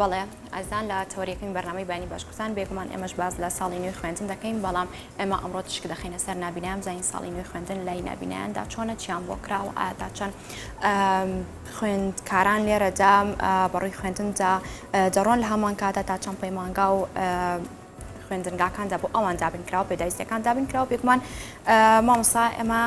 بەڵێ ئازان لە تەوەریەکەین بەرنامەی بانی باشکوتان بێگومان ئێمەش باز لە ساڵی نوێ خوێندن دەکەین بەڵام ئێمە ئەمڕۆ تشک دەخینە سەر نبینام زین ساڵی نوێ خوێندن لای نبینیاندا چۆنە چیان بۆ کراوە ئاتا چەند خوێندکاران لێرەدا بەڕووی خوێندندا دەڕۆن لە هەمان کاتە تا چەند پەیمانگا و خوێندنگاکاندا بۆ ئەوان دابین کراوە پێداویستەکان دابین کراوە بێگومان مامۆسا ئەمە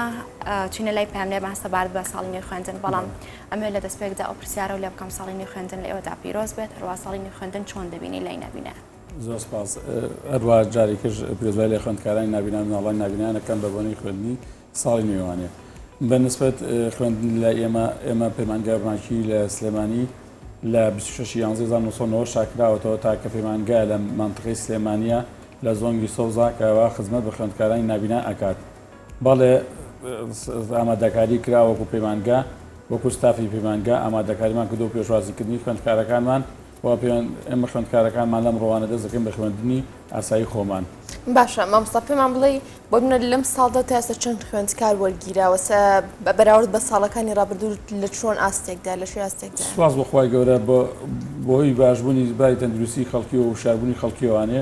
چینە لای پامنێر ماستە بار بە ساڵی نوێ خوێندن بەڵام ئەمێ لە دەستپێکدا ئەو پرسیارە و لە بکەم ساڵی نوێ خوێندن لە ئێوەدا پیرۆز بێت هەروە ساڵی نوێ خوێندن چۆن دەبینی لای نبینە زۆر سپاس هەروە جارێکش پێزای لە خوێندکارانی نبینە مناڵی نبینیانەکەم بە بۆنەی خوێندنی ساڵی نوێ وانە بە نسبەت خوێندن لای ئێمە ئێمە پەیمانگای ڕووناکی لە سلێمانی لە 26 یانزی 1990 شاکراوەتەوە تاکە پەیمانگا لە مانتقی سلێمانە لە زۆنگی سەوزاکەوە خزمەت بە خوێندکارانی نابینا ئەکات بەڵێ ئامادەکاری کرا وەکو پەیمانگا وەکو ستافی پەیمانگا ئامادەکاریمان کردو پێشوازیکردنی خوێندکارەکانمان وا پێیان ئێمە خوێندکارەکانمان لەم ڕۆوانە دەست دەکەین بە خوێندنی ئاسایی خۆمان. باشە مامۆستا پێمان بڵێ بۆ منە لەم ساڵدا تا ئێستا چەند خوێندکار وەرگیراوە بە بەراورد بە ساڵەکانی ڕابردوو لە چۆن ئاستێکدا لە شوێ ئاستێکدا سواز بەخوای گەورە بۆی باشبوونی باری تەندروستی خەڵکی و شاربوونی خەڵکیوانێ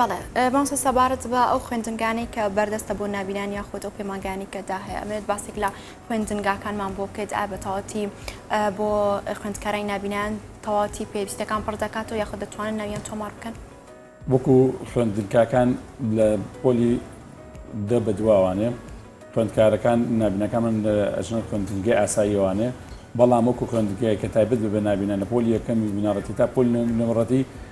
بەڵێ مامۆستا سەبارەت بە ئەو خوێندنگانەی کە بەردەستە بۆ نابینان یاخود ئەو پەیمانگانی کە دا هەیە ئەمێت باسێک لە خوێندنگاکانمان بۆ بکەیت ئا بە تەواتی بۆ خوێندکارای نابینان تەواتی پێویستەکان پڕ دەکات و یاخود دەتوانن ناویان تۆمار بکەن وەکو خوێندنکاکان لە پۆلی دە بەدواوانێ خوێندکارەکان نابینەکانمان لە ئەژنە خوێندنگای ئاساییەوانێ بەڵام وەکو خوێندگای کە تایبەت بە نابینە لە پۆلی یەکەمی بنەڕەتی تا پۆل نەمڕەتی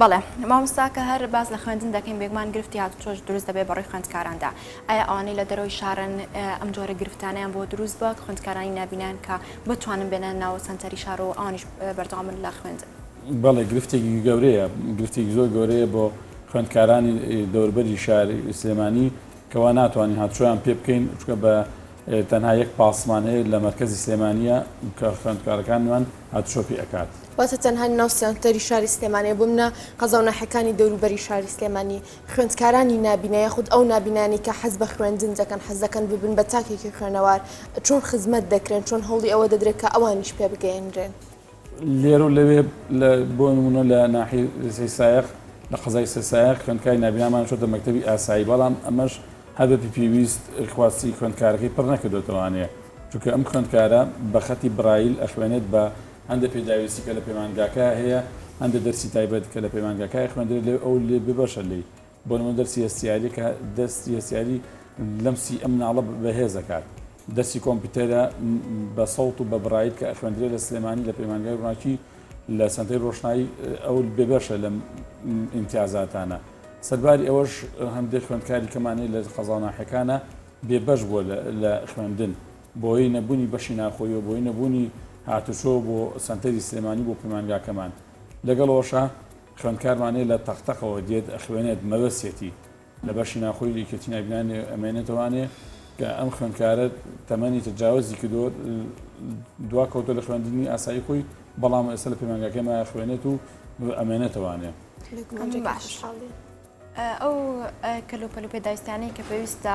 بەڵێ مامۆستا کە هەر باس لە خوێندن دەکەین بێگومان گرفتی هاتوچۆش دروست دەبێت بەڕووی خوێندکاراندا ئایا ئەوانەی لە دەرەوەی شارن ئەم جۆرە گرفتانیان بۆ دروست بووە خوێندکارانی نبینان کە بتوانن بێنە ناوە سنتەری شار و ئەوانیش بەردەوامن لە خوێندن بەڵێ گرفتێکی گەورەیە گرفتێکی زۆر گەورەیە بۆ خوێندکارانی دەوربەری شار سلێمانی کەوا ناتوانین هاتوچۆیان پێ بکەین چکە بە تەنها یەک پاسمان هەیە لە مەرکزی سلێمانە کە خوێندکارەکانمان هاتوچۆ پێ ئەکات. واتە تەنها ناو سێنتەری شاری سلێمانێ بمنە قەزاو ناحێکانی دەوروبەری شاری سلێمانی خوێندکارانی نابینە یاخود ئەو نابینانی کە حەز بە خوێندن دەکەن حەز دەکەن ببن بە تاکێکی خوێنەوار چۆن خزمەت دەکرێن چۆن هەوڵی ئەوە دەدرێت کە ئەوانیش پێ بگەیەنرێن؟ لێرو لەوێ لە بۆ نمونە لە ناحی سەی سایەق لە قەزای سەی سایەق خوێندکاری نابینامان چۆتە مەکتەبی ئاسایی بەڵام ئەمەش هەر بە پێویست خواستی خوێندکارەکەی پڕ نەکردۆتەوانێ چونکە ئەم خوێندکارە بە خەتی برایل ئەخوێنێت بە هەندێ پێداویستی کە لە پەیمانگاکە هەیە، هەندێ دەرسی تایبەت کە لە پەیمانگاکە خوێندرێت لێ ئەو لێ ببەشە لێی بۆ نموونە دەرسی هەستیاری کە دەرسی هەستیاری لەم سی ئە مناڵە بەهێز ئەکات دەرسی کۆمپیوتەرە بە سەوت و بە برایل کە خوێندرێت لە سلێمانی لە پەیمانگای ڕووناکی لە سەنتەی ڕۆشنایی ئەو ببەشە لەم ئیمتیازاتانە سەرباری ئەوەش هەندێک خوێندکاری کەمان هەیە لە قەزا و ناحیەکانە بێبەش بووە لە خوێندن بەهۆی نەبوونی بەشی ناوخۆییەوە، بەهۆی نەبوونی هاتوچۆ بۆ سەنتەری سلێمانی بۆ پەیمانگاکەمان، لەگەڵ ئەوەشا خوێندکارمان هەیە لە تەق تەقەوە دێت ئەخوێنێت، مەبەستیەتی لە بەشی ناوخۆی یەکێتی ناوبینانی ئەمێنێتەوانێ کە ئەم خوێندکارە تەمەنی تەجاوزی کردووە دوا کەوتوە لە خوێندنی ئاسایی خۆی بەڵام ئێستا لە پەیمانگاکەمان ئەخوێنێت و ئەمێنێتەوانێ. ئەو کەلوپەل و پێداویستانەی کە پێویستە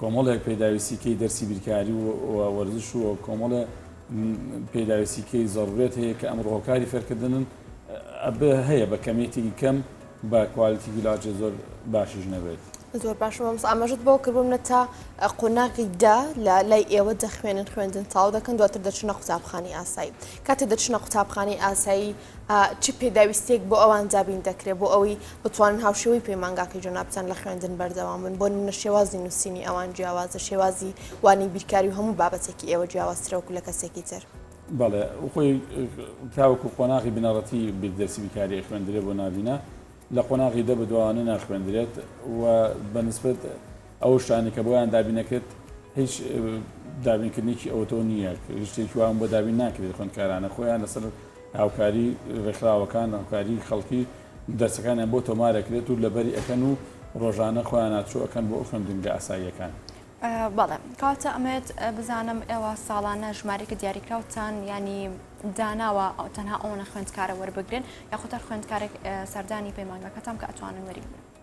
کۆمەڵێک پێداویستیکەی دەرسی بیرکاری و وەرزش و کۆمەڵێ پێداویستیکەی زەڕورەت هەیە کە ئەمڕۆ هۆکاری فێرکردنن ئەبێ هەیە بە کەمیەتێکی کەم بە کوالتی گیلاجێ زۆر باشیش نەبێت زۆر باشم ئەمس ئاماژت بۆ کردم نە تا قۆناغی دا لە لای ئێوە دەخوێنن خوێندن تاو دەکەن دواتر دەچنە قوتابخانی ئاسایی کاتێ دەچنە قوتابخانی ئاسایی چ پێداویستییەک بۆ ئەوان دابین دەکرێت بۆ ئەوەی بتوانن هاوشێوەی پەیمانگاکەی جەنابتان لە خوێندن بەردەوام بن بۆ نمونە شێوازی نووسینی ئەوان جیاوازە شێوازی وانەی بیرکاری و هەموو بابەتێکی ئێوە جیاوازترە وەکو لە کەسێکی تر. بەڵێ خۆی تاوەکو قۆناغی بنەڕەتی بیردەرسی بیرکاری ئەخوێندرێت بۆ ناڤینە لە قۆناغی دە بەدواوانە ناخوێندرێت و بە نسبەت ئەو شتانەی کە بۆیان دابین ئەکرێت هیچ دابینکردنێکی ئەوتۆ نییە هیچ شتێکی وان بۆ دابین ناکرێت خوێندکارانە خۆیان لەسەر هاوکاری ڕێکخراوەکان هاوکاری خەڵکی دەرسەکانیان بۆ تۆمار ئەکرێت و لەبەری ئەکەن و ڕۆژانە خۆیان ئاچۆ ئەکەن بۆ ئەوخوێندنگە ئاساییەکان. بەڵێ کاکە ئەمەوێت بزانم ئێوە ساڵانە ژمارەێکی دیاریکراوتان ینی داناوە ئەو تەنها ئەوەنە خوێندکارە وەربگرن یاخود هەر خوێندکارێک سەردانی پەیمانگاکەتان کە ئەتوانن وەریبگرن.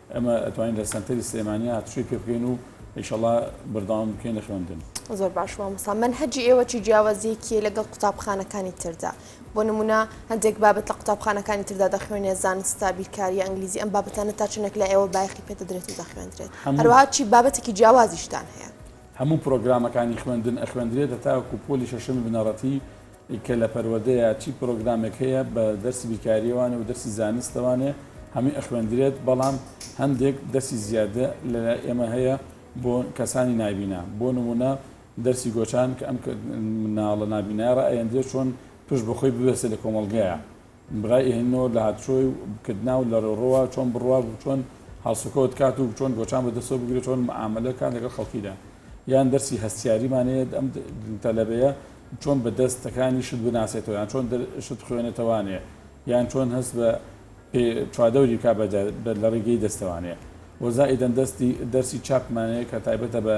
ئێمە ئەتوانین لە سەنتەری سلێمانیا هاتوچۆی پێ بکەین و ئیشەڵا بەردەوام بکەین لە خوێندن. زۆر باش مامۆستا مەنهەجی ئێوە چی جیاوازیەکی هەیە لەگەڵ قوتابخانەکانی تردا؟ بۆ نمونە هەندێک بابەت لە قوتابخانەکانی تردا دەخوێنێ زانستە بیرکاریە ئەنگلیزی ئەم بابەتانە تا چەنێک لای ئێوە بایەخی پێ دەدرێت و دەخوێندرێت هەروەها چی بابەتێکی جیاوازیشتان هەیە؟ هەموو پرۆگرامەکانی خوێندن ئەخوێندرێت هەتاوەکو پۆلی شەشەمی بنەڕەتی کە لە پەروەردەیە چی پرۆگرامێک هەیە بە دەرسی بیرکاریەوانێ و دەرسی زانستەوانێ هەمووی ئەخوێندرێت بەڵام هەندێک دەرسی زیادە لە لای ئێمە هەیە بۆ کەسانی نابینا بۆ نمونە دەرسی گۆچان کە ئەم مناڵە نابینایە ڕائەیەندرێت چۆن پشت بەخۆی ببەسێت لە کۆمەڵگەیە برای ئهنۆ لە هاتشۆی و بکردنا و لە رێڕهوه چۆن بڕوا و چۆن هەڵسوکەوت کات و چۆن گۆچان بە دەسەو بگرێ چۆن مەعامەلە کات لەگەڵ خەڵکیدا یان دەرسی هەستیاریمان هەیە ئەم تەلەبەیە چۆن بە دەس تەکانی شت بناسێتەوە یان چۆن شت بخوێنێتەوانێ یان چۆن هەست بە پێ چوادەوری بکا بە لە ڕیگەی دەستەوانێ وە زائیدەن دەستی دەرسی چاپمانەیە کە تایبەتە بە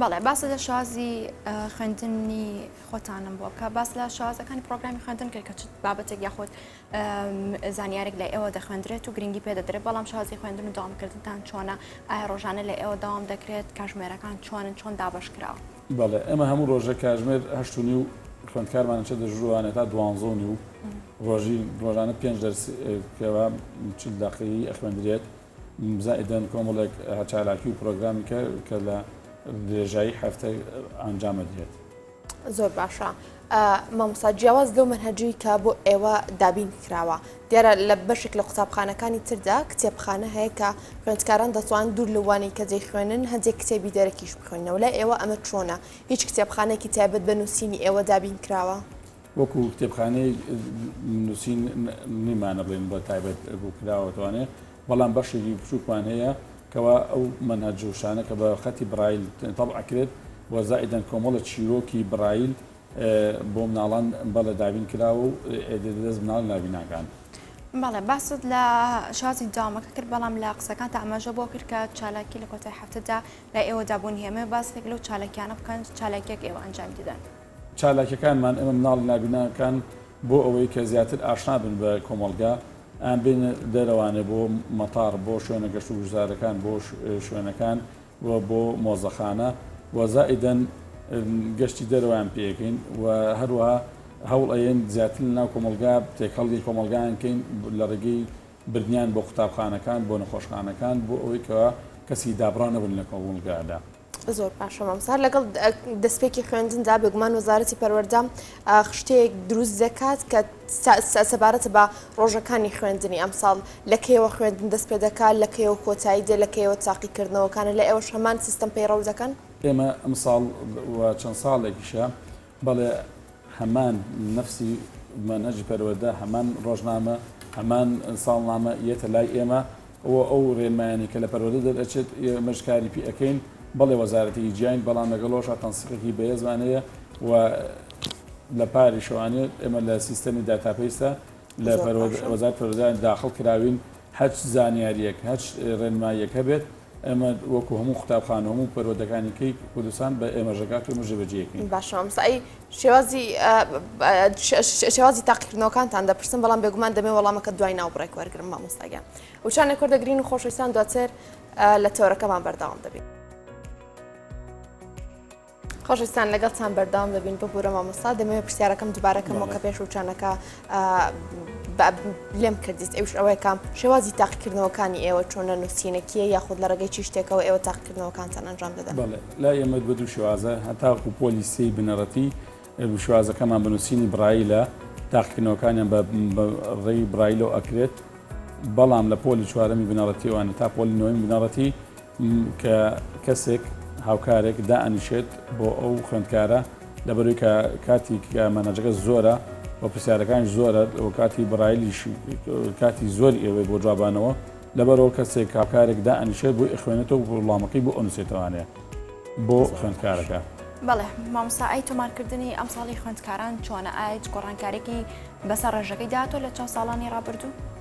بەڵێ باس لە شازی خوێندنی خۆتانم بۆ بکە باس لە شازەکانی پرۆگرامی خوێندن کرد کە بابەتێک یاخۆت زانیارێک لە ئێوە دەخوێندرێت و گرنگی پێ دەدرێت بەڵام شازی خوێندن و داوامکردنتان چۆنە ئایا ڕۆژانە لە ئێوە داوام دەکرێت کاژمێرەکان چۆنن چۆن دابش کراوە بەڵێ ئەمە هەموو ڕۆژە کاژمێر هەشت و نیو خوێندکارمانە چە دەژوانە تا دوانزە و نیو ڕۆژی ڕۆژانە پێنج دەرس کەوا چل دقەیی ئەخوێندرێت زائیدەن کۆمەڵێک چالاکی و پرۆگرامی کە کە لە درێژایی هەفتەی ئەنجام ئەدرێت. زۆر باشە مامۆستا جیاواز لەو منهجی کە بۆ ئێوە دابین کراوە دیارە لە بەشێک لە قوتابخانەکانی تردا کتێبخانە هەیە کە خوێندکاران دەتوان دوور لەوانی کە جێ خوێنن هەندێک کتێبی دەرەکیش بخوێنەوە لای ئێوە ئەمە چۆنە هیچ کتێبخانێکی تایبەت بە نووسینی ئێوە دابین کراوە وەکو کتێبخانەیەک نووسین نیمانە بڵێن بە تایبەت بوو کراوەتوانێ بەڵام بەشێکی بچووکمان هەیە کەوا ئەو منە جوشانە کە بە خەتی برایل تەڵ ئەکرێت وەزائدەن کۆمەڵە چیرۆکی برایل بۆ مناڵان بە لە دابین کراوە و دەست مناڵ نابیناکان. بەڵێ باست لە شازی دامەکە کرد بەڵام لە قسەکان تا ئەمەژە بۆ کرد کە چالاکی لە کۆتای هەفتەدا لە ئێوەدا بوون هێمە باسێک لەو چالاکیانە بکەن چالاکیەک ئێوە ئەنجامی دەدەن. چالاکیەکانمان ئێمە مناڵی نابیناکان بۆ ئەوەی کە زیاتر ئاشنا بن بە کۆمەڵگا ئان بێنە دەرەوانێ بۆ مەتاڕ بۆ شوێنە گەشت و گوزارەکان بۆ شوێنەکان و بۆ مۆزەخانە و زائیدەن گەشتی دەرەوەیان پێکەین و هەروەها هەوڵ ئەیەن زیاتر لە ناو کۆمەلگا تێکەڵی کۆمەلگایان کەین لە ڕێگەی بردنیان بۆ قوتابخانەکان بۆ نەخۆشخانەکان بۆ ئەوەی کە کەسی دابڕاو نەبن لە کۆمەڵگادا. زۆر باشە مامسار لەگەڵ دەستپێکی خوێندندا بێگومان وەزارەتی پەروەەردە خشتەیەک دروست دەکات کە سەبارەت بە ڕۆژەکانی خوێندنی ئەم ساڵ لە کەیەوە خوێندن دەست پێ دەکات لە کەیەوە کۆتایی دێ لە کەیەوە تاقیکردنەوەکانە لە ئێوە شەمان سیستم پەیڕەو دەکەن ئێمە ئەم ساڵ چەند ساڵێکیشە بەڵێ هەمان نەفسی مەنهەجی پەروەردە، هەمان ڕۆژنامە، هەمان ساڵنامە یەتە لای ئێمە و ئەو ڕێنمایانەی کە لە پەروەردە دەرئەچێت ئێمەش کاری پێ ئەکەین، بەڵێ وەزارەتێکی جیاین بەڵام لەگەڵ ئەوەشا تەنسیقێکی بەهێزمان هەیە و لە پاریشەوانێ ئێمە لە سیستەمی داتابەیسدا لە وەزارەتی پەروەردە داخڵ کراوین هەچ زانیارییەک هەچ ڕێنماییەک هەبێت، ئێمە وەکو هەموو قوتابخانە هەموو پەروەردەکانی کەی کوردستان بە ئێمەش دەکات و ئێمەش جێ بەجێ ئەکەین. باشە مامۆستا ئەی شێوازی شێوازی تاقیکردنەوەکانتان دەپرسم بەڵام بێگومان دەمێ وەڵامەکەت دوای ناوبڕێک وەرگرم مامۆستا گیان وچانێک وەردەگرین و خۆشەویستان دواتر لە تەوەرەکەمان بەردەوام دەبین. خۆشەویستان لەگەڵتان بەردەوام دەبین ببوورە مامۆستا دەمەوێت پرسیارەکەم دوبارەکەمەوە کە پێش وچانەکە لێم کردیت ئەوش ئەوەیەکە شێوازی تاقیکردنەوەکانی ئێوە چۆنە نووسینەکیە یاخود لە ڕێگەی چی شتێکەوە ئێوە تاقیکردنەوەکانتان ئەنجام دەدەن لا ئێمە بە دوو شێوازە هەتاکو پۆلی سی بنەڕەتی شوازەکەمان بنووسینی برایی لە تاقیکردنەوەکانیان بە ڕێی برایلۆ ئەکرێت بەڵام لە پۆلی چوارەمی بنەڕەتیوانە تا پۆلینەوەی بنەڕەتی کە کەسێک، هاوکارێک، دائەنیشێت بۆ ئەو خوێندکارە، لەبەروی کە کاتی کە مەنهەجەکە زۆرە و پرسیارەکانیش زۆرە و کاتی برایلیش کاتی زۆری ئەوێت بۆ جوابانەوە، لەبەرئەوە کەسێک، هاوکارێک، دائەنیشێت بۆی ئەخوێنێتەوە و وڵامەکەی بۆ ئەنوسێتەوانێ بۆ خوێندکارەکە. بەڵێ مامۆستا ئەی تۆمارکردنی ئەمساڵی خوێندکاران چۆنە ئایج گۆڕانکاریەکی بەسەر ڕێژەکەی داهاتوە لە چەند ساڵانی ڕابردوو؟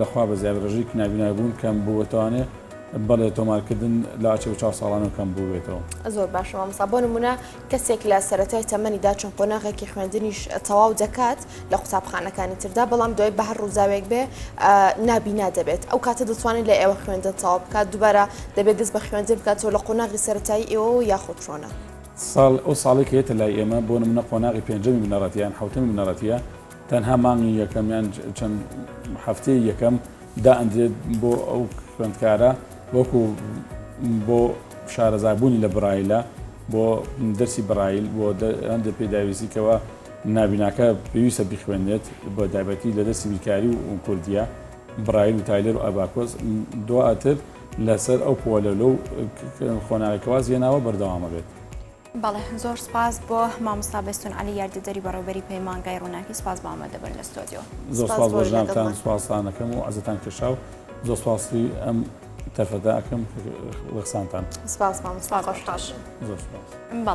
لەخوا بەزیاد ڕێژەی کنابینای بوون کەم بووبێتەوانێ؟ بەڵێ تۆمارکردن لە ئاچێ و چاو ساڵانەوە کەم بووبێتەوە. زۆر باشە مامۆستا بۆ نمونە کەسێک لە سەرەتای تەمەنیدا چون قۆناغێکی خوێندنیش تەواو دەکات لە قوتابخانەکانی تردا بەڵام دوای بە هەر ڕووداوێک بێ نابینا دەبێت ئەو کاتە دەتوانێت لە ئێوە خوێندن تەواو بکات دووبارە دەبێت دەست بە خوێندن بکاتەوە لە قۆناغی سەرەتایی ئێوە و یاخود چۆنە؟ ساڵ ئەو ساڵێک هەیەتە لای ئێمە بۆ نمونە قۆناغی پێنجەمی بنەڕەتییان حەوتەمی بنەڕەتییە تەنها مانگی یەکەم یان چەند هەفتەی یەکەم دائەندرێت بۆ ئەو خوێندکارە وەکو بۆ شارەزابوونی لە برایلە بۆ دەرسی برایل بۆ هەندێک پێداویستیکەوە نابیناکە پێویستە بخوێنێت بۆ دابەتی لە دەستی بیرکاری و کوردیا برایل و تایلەر و ئەباکۆز دواتر لەسەر ئەو پۆلە لەو خۆناوی کەواز هێناوە بەردەوامە بێت. بەڵێ زۆر سپاس بۆ مامۆستا بێستون عەلی یاردەدەری بەڕێوبەری پەیمانگای ڕوناکی سپاس بۆ ئامادە بون لە ستۆدیۆ. زۆر سپاس بۆ جنابتان سپاستان ئەکەم و عەزێتان کێشا و زۆر سپاسی ئەم تەرفەدا ئەکەم قسانتان. سپاس مامۆستا خۆشحاڵ بووم. زۆر سپاس.